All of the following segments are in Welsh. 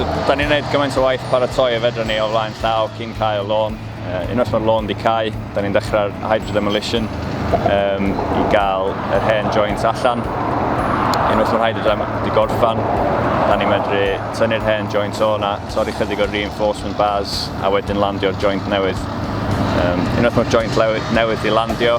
So, da ni'n gwneud gymaint o waith paratoi y fedra ni o flaen llaw cyn cael y lôn. Uh, unwaith mae'r lôn di cael, da ni'n dechrau'r hydrodemolition um, i gael yr hen joints allan. Unwaith mae'r hydrodem di gorffan, da ni'n medru tynnu'r hen joints o'na, torri chydig o'r reinforcement bars a wedyn landio'r joint newydd. Um, unwaith mae'r joint newydd di landio,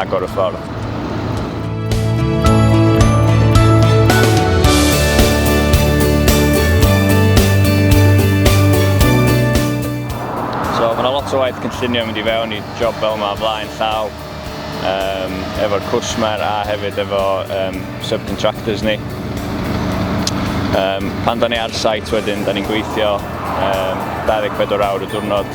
agor y ffordd. So mae yna lot o waith cynllunio mynd i fewn i job fel yma flaen llaw um, efo'r cwsmer a hefyd efo um, subcontractors ni. Um, pan da ni ar site wedyn, da ni'n gweithio um, 24 awr y diwrnod